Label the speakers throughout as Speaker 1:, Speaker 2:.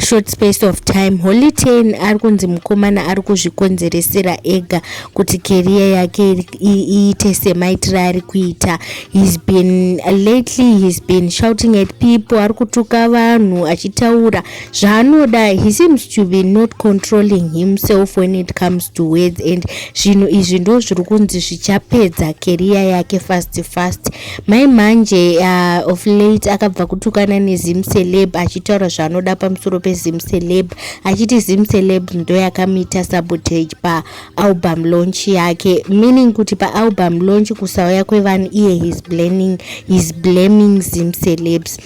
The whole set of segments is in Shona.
Speaker 1: short space of time holy ten ari kunzi mukomana ari kuzvikonzeresera ega kuti keriya yake iite semaitiro ari kuita hes been lately hes been shouting at people ari kutuka vanhu achitaura zvaanoda he seems to be not controlling himself when it comes to words and zvinhu izvi ndo zviri kunzi zvichapedza keriya yake fast fast Mai manje uh, of late akabva kutukana nezim celeb achitaura zvaanoda pamusoro pezim celeb achiti zim celeb ndo yakamita sabotage paalbum launch yake meaning kuti paalbum launch kusauya kwevanhu iye his blaming, his blaming zim celebs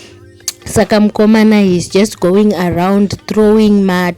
Speaker 1: saka mukomana he's just going around throwing mat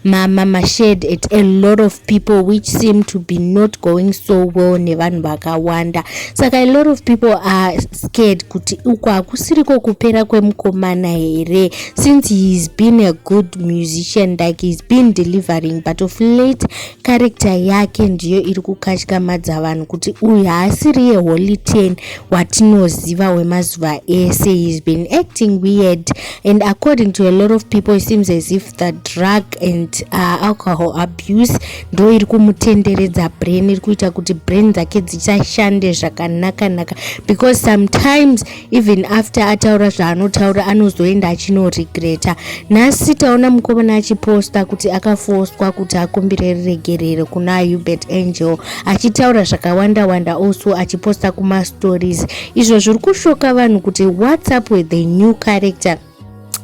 Speaker 1: mama mashed at a lot of people which seem to be not going so well nevanhu vakawanda saka a lot of people are scared kuti uko hakusiriko kupera kwemukomana here since heis been a good musician like heis been delivering but of late character yake ndiyo iri kukatyamadza vanhu kuti uyu haasiriye holy ten watinoziva wemazuva ese he's been acting weird and according to a lot of people it seems as if the drug and uh, alcohol abuse ndo iri kumutenderedza brain iri kuita kuti brain dzake dzichashande zvakanakanaka because sometimes even after ataura zvaanotaura anozoenda achinoregreta nhasi taona mukomana achiposta kuti akafoswa kuti akumbire riregerero kuna hubert angel achitaura zvakawanda wanda also achiposta kumastories izvo zviri kushoka vanhu kuti whatsapp with the new character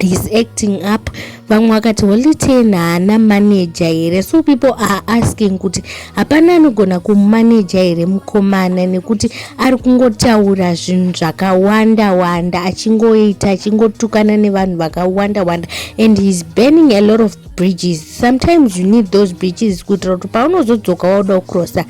Speaker 1: he's acting up vamwe vakati holy ten haana manaja here so people are asking kuti hapana anogona kumanaja here mukomana nekuti ari kungotaura zvinhu zvakawanda wanda achingoita achingotukana nevanhu vakawanda wanda and heis burning a lot of bridges sometimes you need those bridges kuitira kuti paunozodzoka wauda kucrossa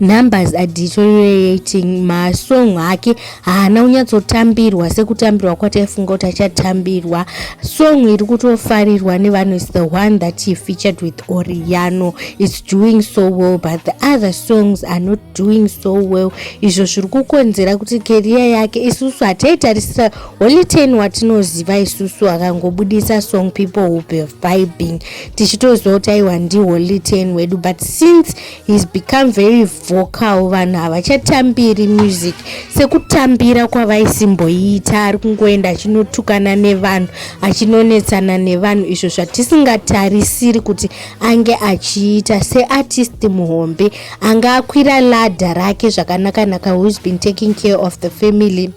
Speaker 1: numbers are deteriorating masong ake haana kunyatsotambirwa sekutambirwa kwataifunga kuti achatambirwa song iri kutofarirwa nevanhu is the one that he featured with oriano is doing so well but the other songs are not doing so well izvo zviri kukonzera kuti keriya yake isusu hataitarisira holy ten watinoziva isusu akangobudisa song people will be vibing tichitoziva kuti aiwa ndihwo liten wedu but since heis become very vocal vanhu havachatambiri music sekutambira kwavaisimboiita ari kungoenda achinotukana nevanhu achinonetsana nevanhu izvo zvatisingatarisiri kuti ange achiita seartist muhombe anga akwira ladha rake zvakanakanaka whois been taking care of the family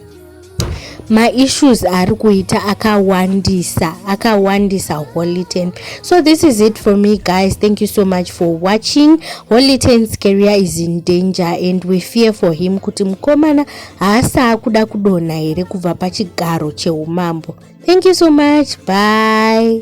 Speaker 1: maissues ari kuita akawandisa akawandisa holy ten so this is it for me guys thank you so much for watching holy ten's career is in danger and we fear for him kuti mukomana haasaa kuda kudonha here kubva pachigaro cheumambo thank you so much bye